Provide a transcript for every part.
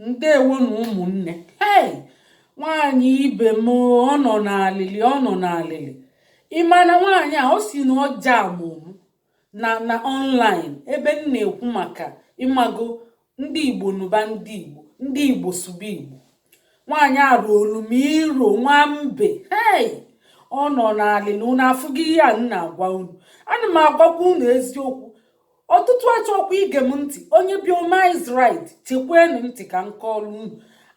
ndewo nụ ụmụnne hei nwaanyị ibe m ọ nọ n'alịlị ọ nọ n'alịlị ịma na nwaanyị a ọ si na ọ jamụ m na online ebe m na-ekwu maka ịmago ndị igbo nụba ndị igbo ndị igbo sụba igbo nwaanyị a roolu m iro nwa mbe hei ọ nọ n'alịlị unu afụgo ihe a m na-agwa unu ana m agwakwa unu eziokwu ọtụtụ achọrọkwa ige m ntị onye obiọma is right chekwanụ ntị ka m kọọrọ unu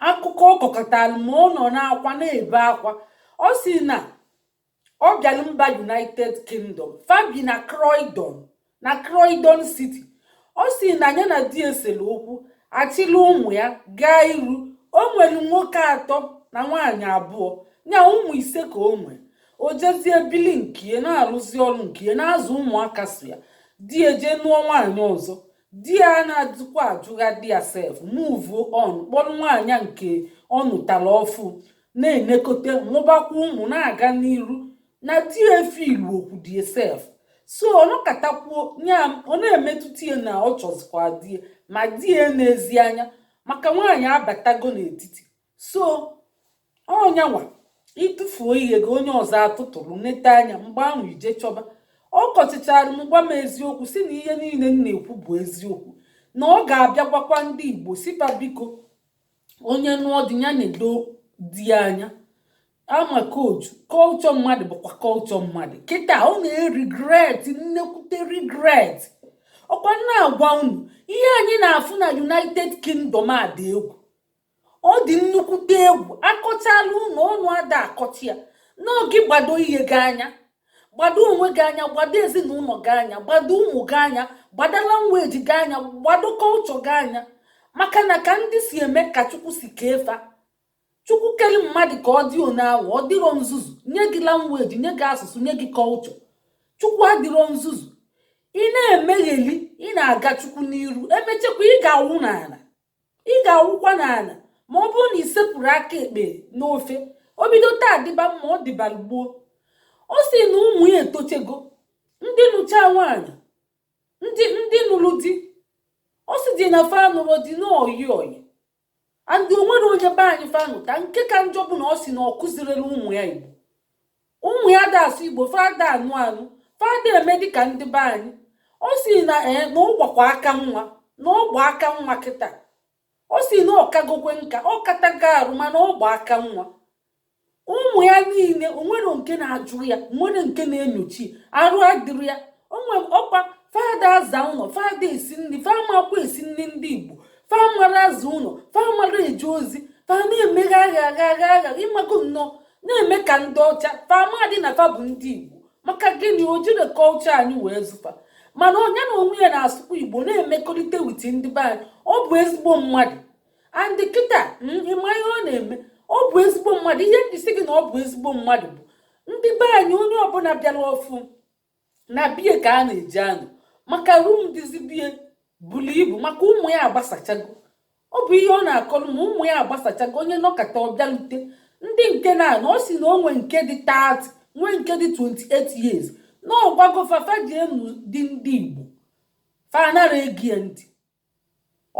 akụkọ ọ kọkọtara m ọ nọ n'akwa na-ebe akwa ọ si na ọ bịara mba united kingdom fa bi na croydon na croydon city ọ si na ya na di esere okwu achịla ụmụ ya gaa iru o nwere nwoke atọ na nwaanyị abụọ ya ụmụ ise ka o nwere o jezie bili nke ya na-arụzi ọrụ nke ya na-azụ ụmụaka sọ ya di ya jee nụọ nwaanyị ọzọ di ya na-adịkwa ajụgha di ya sef move on kpọrọ nwaanyị nke ọ nụtara ọfụ na-enekọta mụbakwa ụmụ na-aga n'iru na di ya efe ilu okwu di ya sef so ọ nọkatakwuo ya ọ na-emetụta ya na ọ chọzikwa di ya ma di ya enezi anya maka nwaanyị abatago n'etiti so ọnyanwa ị tụfuo ihe gị onye ọzọ atụtụrụ nete anya mgbe ahụ i je chọba ọ kọchịchara m gwa m eziokwu si na ihe niile m na-ekwu bụ eziokwu na ọ ga-abịa gwakwa ndị igbo sị fa biko onye nụọ di ya nedo di ya anya ama koju culture mmadụ bụkwa culture mmadụ kịta ọ na-eregret nnukwute regret ọkwa m na-agwa unu ihe anyị na-afụ na united kingdom a dị egwu ọ dị nnukwute egwu akọchala unu ọnụ ada akọcha ya n'oge gbado ihe gị anya gbado onwe gị anya gbado ezinụlọ gị anya gbado ụmụ gị anya gbado language gị anya gbado culture gị anya maka na ka ndị si eme ka chukwu si kee fa chukwu kele mmadụ ka ọ dị one ahụ ọ dịrọ nzuzu nye gị language nye gị asụsụ nye gị culture chukwu adịrọ nzuzu ị na-emegheli ị na-aga chukwu n'iru emechekwa ị ga-awụ n'ala ị ga-awụkwa n'ala ma ọ bụrụ na ị sepụrụ aka ekpe n'ofe o bido taa dịba mma ọ dịbara gboo ọ sị na ụmụ ya etochego ndị nụcha nwaanyị ndị ndị nụrụ di ọ sị dị na fa nụrụ di na oyi oyi and o nwere onye be anyị fa nụta nke ka njọ bụ na ọ sị na ọ kụzirela ụmụ ya igbo ụmụ ya ada asụ igbo fa ada anụ anụ fa ada eme dịka ndị be anyị ọ sị na eh, na ọ gbakwa aka nwa na ọ gba aka nwa kịta ọ sị na ọ kagokwa nka ọ katago arụ mana ọ gba aka nwa ụmụ ya niile o nwere nke na-ajụ ya o nwere nke na-enyochi arụ adịrị ya onwe ọkwa fa ada aza ụlọ fa ada esi nri fa amakwa esi nri ndị igbo fa amara aza ụlọ fa amara eje ozi fa na-emeghe agha agha agha agha ị mago nnọọ na-eme ka ndị ọcha fa amadị na fa bụ ndị igbo maka gịnị o jiri culture anyị wee zụọ fa mana onye na onwe ya na-asụkwa igbo na-emekọrịta with ndị be anyị ọ bụ ezigbo mmadụ and kịta hmm, ị ma ihe ọ na-eme ọ bụ ezigbo mmadụ ihe m ji sị gị na ọ bụ ezigbo mmadụ bụ ndị be anyị onye ọbụla bịara ọfụụ na be ya ka a na-eje anọ maka room dịzi be ya buru ibu maka ụmụ ya agbasachago ọ bụ ihe ọ na-akọrọ m ụmụ ya agbasachago onye nọkata ọ bịa lete ndị nke na-anọ ọ sị na o nwe nke dị 30 nwee nke dị 28 years na ọ gwago fa fa jee nụọ di ndị igbo fa anara ege ya ntị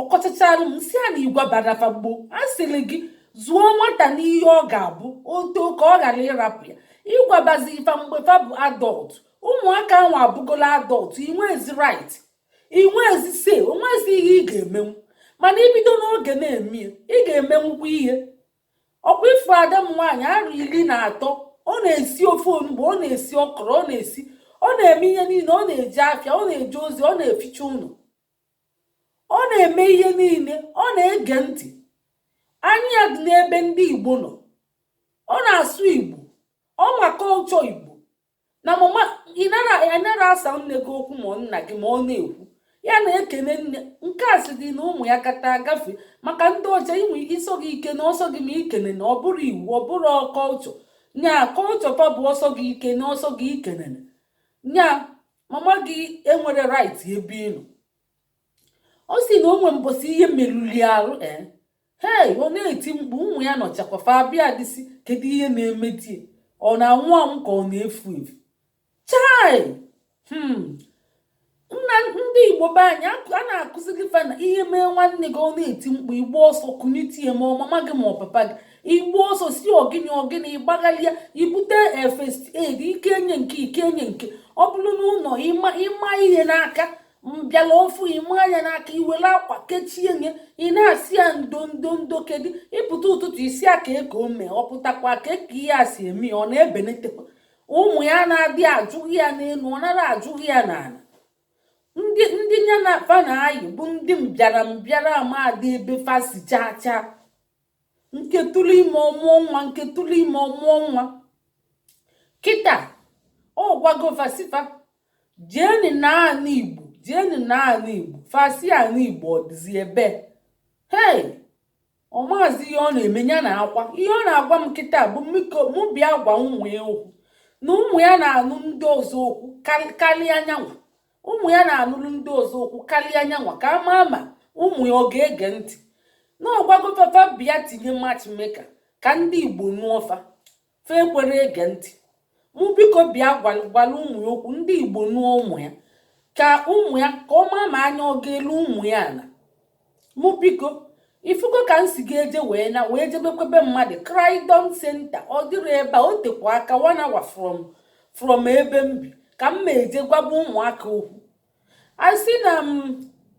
ọ kọchachara m sị ya na ị gwabara fa gboo a sịrị gị zụọ nwata n'ihe ọ ga-abụ o too ka ọ ghara ịrapụ ya ị gwabazie fa mgbe fa bụ adult ụmụaka ahụ abụgola adult i nwezi right i nwezi say o nwezi ihe ị ga-emenwu mana i bido n'oge na-eme ị ga-emenwukwa ihe ọkwa ị fụ ada m nwaanyị arọ iri na atọ ọ na-esi ofe onugbu ọ na-esi ọkọrọ ọ na-esi ọ na-eme ihe niile ọ na-eje afịa ọ na-eje ozi ọ na-eficha ụlọ ọ na-eme ihe niile ọ na-ege ntị anya ya dị n'ebe ndị igbo nọ ọ na-asụ igbo ọ ma culture igbo na mama ị nara asa nne gị okwu ma ọ nna gị ma ọ na-ekwu ya na-ekene nne nke a sị dị na ụmụ ya kata agafe maka ndị ọcha i nwe ike ọ sọ gị i kene ọ sọ gị i kenena ọ bụrụ iwu ọ bụrụ culture nya culture fa bụ ọ sọ gị i kene ọ sọ gị i kenene nya mama gị enwere right ebe ị nọ ọ sị na o nwe mbọsị ihe merụlụ ya arụ ee eh? hei ọ na-eti mkpu ụmụ ya nọchakwa fa abịadị sị kedu ihe na-emedị ya ọ na-anwụ anwụ ka ọ na-efu efu chai hmm. nna ndị igbo be anyị a na-akụziri fa na ihe mee nwanne gị ọ na-eti mkpu ị gbaa ọsọ kunitie ma ọ mama gị ma ọ papa gị ị gbaa ọsọ sị ọ gịnị ọ gịnị ị gbagharịa i bute first aid i kenye nke i kenye nke ọ bụrụ na ụlọ ịma ịma ihe n'aka mbịala ofu ịma anya n'aka i were akwa kechienye ị na-asị ya ndo ndo ndo kedu ị pụta ụtụtụ ị sị ya kee ka o me ọ pụtakwa kee ka ihe a si eme ya ọ na-ebelitekwa ụmụ ya anadị ajụghị ya n'elu ọ nara ajụghị ya n'ala ndị ndị ya na fa na-ayị bụ ndị mbịara mbịara amadị ebe fa si chaa chaa nke tụrụ ime ọ mụọ nwa nke tụrụ ime ọ mụọ nwa kịta ọ gwago fa sị fa jeeni na anị igbo jeeni na anị igbo fa sị anị igbo ọ dịzi ebe hei ọ maazị ihe ọ na-eme ya na akwa ihe ọ na-agwa m kịta bụ mụ bịa gwa ụmụ ya okwu na ụmụ ya na-anụ ndị ọzọ okwu karịa nya nwa ụmụ ya na-anụrụ ndị ọzọ okwu karịa nya nwa ka a maa ma ụmụ ya ọ ga-ege ntị na ọ gwago fa fa bịa tinye matchmaker ka ndị igbo nụọ fa fa ekwere ege ntị mụ biko bịa gwala ụmụ ya okwu ndị igbo nụọ ụmụ ya ka ụmụ ya ka ọ maa ma anya ọ ga-elu ụmụ ya ala mụ biko ifugo ka m si ga-eje wee na wee jebekwebe mmadụ Croydon Center ọ dịrị ebe a o tekwa aka one hour from from ebe m bi ka m ma eje gwaba ụmụaka okwu I sị na m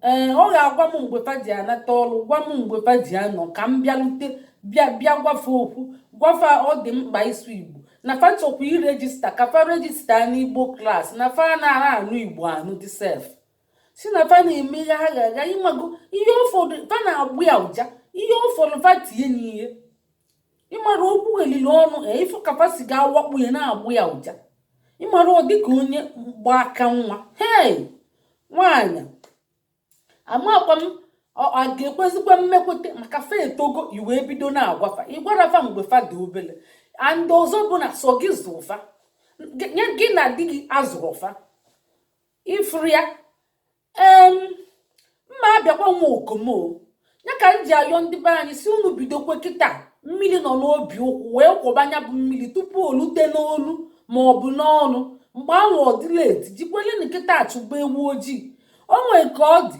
ee eh, ọ ga-agwa m mgbe fa ji anata ọrụ gwa m mgbe fa ji anọ ka m bịarute bịa bịa gwa fa okwu gwa fa ọ dị mkpa ịsụ Igbo na fa chọkwa irejista ka fa rejista n'Igbo klas na fa anara anụ Igbo anụdị sef sị na fa na-eme ya agha agha ị mago ihe ụfọdụ fa na-agbọ ya ụja ihe ụfọdụ fa tinye n'ihe ịmara okwu elili ọnụ ị fụ ka fa si ga-awakpo ya na-agbọ ya ụja ịmara ọ dịka onye gba aka nwa hei nwaanyị amakwa m a ga-ekwezikwa mmekwute maka fa etogo i wee bido na-agwa fa ị gwara fa mgbe fa dị obele and ọzọ bụ na sọ gị zụ fa gị na di gị azụrọ fa ifuru ya ee m ma abịakwa nwa okomo ya ka m ji ayọ ndị be anyị sị unu bidokwe kịta mmiri nọ n'obi ụkwụ wee kwọba nya bụ mmiri tupu o lute n'olu ma ọ bụ n'ọnụ mgbe anwụ ọ dị na-eti jikwelenị kịta achụba ewu ojii o nwee ka ọ dị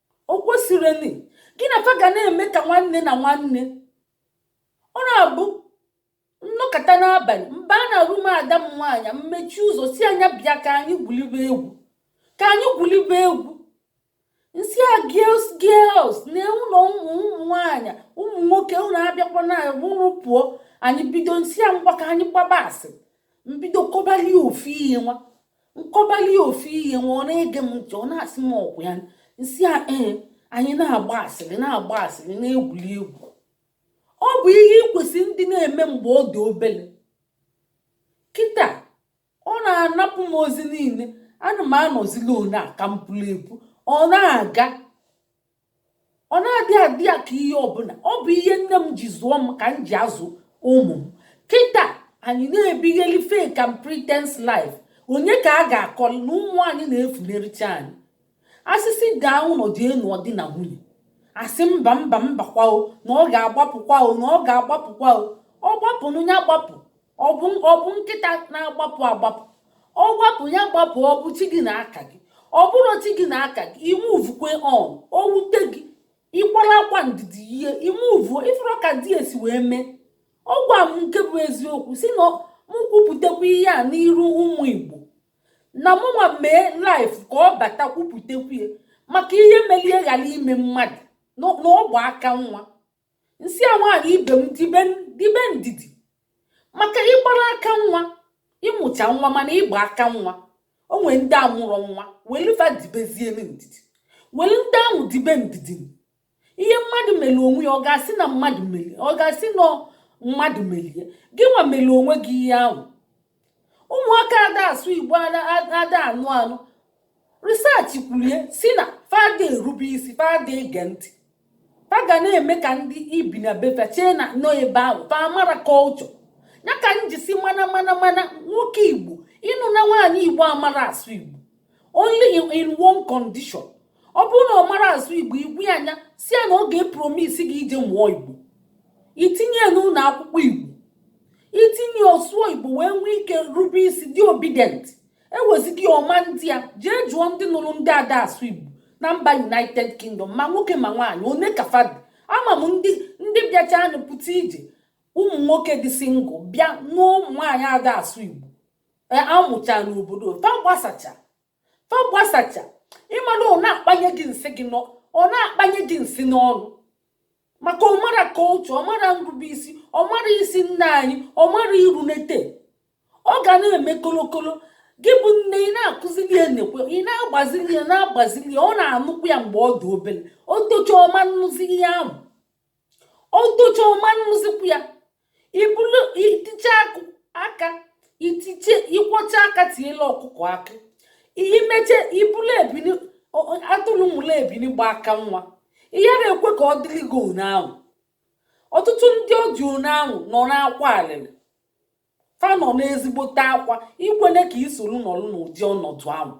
o kwesịrịnị gị na fa ga na-eme ka nwanne na nwanne ọ na-abụ m nọkata n'abalị m bịa na room ada m nwaanyị m mechie ụzọ sị nya bịa ka anyị gwulibe egwu ka anyị gwulibe egwu m sị ya girls girls na ụlọ ụmụ ụmụ nwaanyị ụmụ nwoke unu abịakwana unu pụọ anyị bido m sị ya ngwa ka anyị gbaba asịrị m bido kọbali ofu ihe nwa m kọbali ofu ihe nwa ọ na-ege m ntị ọ na-asị m ọkwa ya m sị ya ee anyị na-agba asịrị na-agba asịrị na-egwuli egwu ọ bụ ihe i kwesịrị ịdị na-eme mgbe ọ dị obele kịta ọ na-anapụ m ozi niile ana m anọzila onye a ka m pụrụ epu ọ na-aga ọ na-adị adị ya ka ihe ọbụla ọ bụ ihe nne m ji zụọ m ka m ji azụ ụmụ m kịta anyị na-ebigheli fake and pretense life onye ka a ga-akọli na ụmụ anyị na-efunerịcha anyị a sị sị gaa ụlọ je nụọ di na nwunye a sị mba mba mbakwa o na ọ ga-agbapụkwa o na ọ ga-agbapụkwa o ọ gbapụnụ ya gbapụ ọ bụ ọ bụ nkịta na-agbapụ agbapụ ọ gbapụ ya gbapụ ọ bụ chi gị na aka gị ọ bụrọ chi gị na aka gị ime uvukwe on o wute gị ị kwara akwa ndidi ihe ime uvu ị fụrụ ka di esi wee mee ọ gwa m nke bụ eziokwu sị na m kwupụtakwa ihe a n'iru ụmụ igbo na mụnwa mee live ka ọ bata kwupụtakwu ya maka ihe melie ghara ime mmadụ na ọ gba aka nwa m sị ya nwaanyị ibe m dibe dibe ndidi maka ị gbara aka nwa ị mụcha nwa mana ị gba aka nwa o nwere ndị amụrọ nwa welu fa dibezie ndidi welu ndị ahụ dibe ndidi ihe mmadụ mere onwe ya ọ ga-asị na mmadụ mere ọ ga-asị na mmadụ mere ya gịnwa mere onwe gị ihe ahụ ụmụaka ada asụ igbo ada anụ anụ research kwuru ya sị na fa ada erube isi fa ada ege ntị fa ga na-eme ka ndị i bi na be fa chee na nọ ebe ahụ fa amarọ culture ya ka m ji sị mana mana mana nwoke igbo ịnụna nwaanyị igbo amarọ asụ igbo only in one condition ọ bụrụ na ọ marọ asụ igbo igwu ya anya sị ya na ọ ga-epromise gị ije mụọ igbo i tinye ya n'ụlọ akwụkwọ igbo i tinye ọ sụọ igbo wee nwee ike rube isi dị obedient ewezigị ọma ndị a jee jụọ ndị nụrụ ndị ada asụ igbo na mba united kingdom ma nwoke ma nwaanyị one ka fa dị ama m ndị ndị bịacha anụ pụta ije ụmụ nwoke dị single bịa nụọ ụmụ nwaanyị ada asụ igbo a mụcha n'obodo fa gbasacha fa gbasacha ị ma na ọ na-akpanye gị nsị gị ọ na-akpanye gị nsị n'ọnụ maka ọ marọ culture ọ marọ nrubeisi ọ marọ ịsị nna anyị ọ marọ irunete ọ ga na-eme kolokolo gị bụ nne ị na-akụzili ya nekwa ị na-agbazili ya na-agbazili ya ọ na-anụkwu ya mgbe ọ dị obere o tocha ọ ma anụzi ihe ahụ o tocha ọ ma anụzikwu ya ị bụlụ i tiche aka i tiche ị kwọcha aka tiela ọkụkọ akị i meche ị bụlụ ebini atụrụ mụrụ ebini gba aka nwa ihe na-ekwe ka ọ dịrị gị ụnyaahụ ọtụtụ ndị ọ dị ụnyaahụ nọ n'akwa alịlị fa nọ n'ezigbote akwa ikwele ka i soro nọrọ n'ụdị ọnọdụ ahụ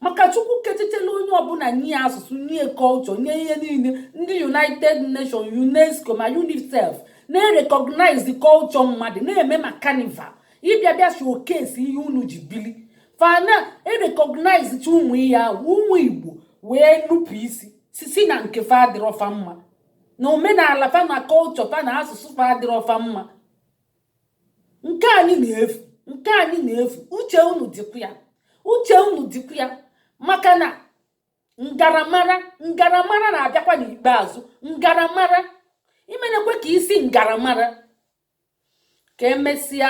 maka chukwu ketechela onye ọbụla nye asụsụ nye culture nye ihe niile ndị united nations unesco ma unicef na-erecognize culture mmadụ na-eme ma carnival ị bịa bịa showcase ihe unu ji bili fa na-erecognize chi ụmụ ihe ahụ ụmụ igbo wee nupụ isi sị sị na nke fa adịrọfa mma na omenala fa na culture fa na asụsụ fa adịrọ fa mma nke anyị na-efu nke anyị na-efu uche unu dịkwa ya uche unu dịkwa ya maka na ngaramara ngaramara na-abịakwa n'ikpeazụ ngaramara imenekwe ka isi ngaramara ka emesịa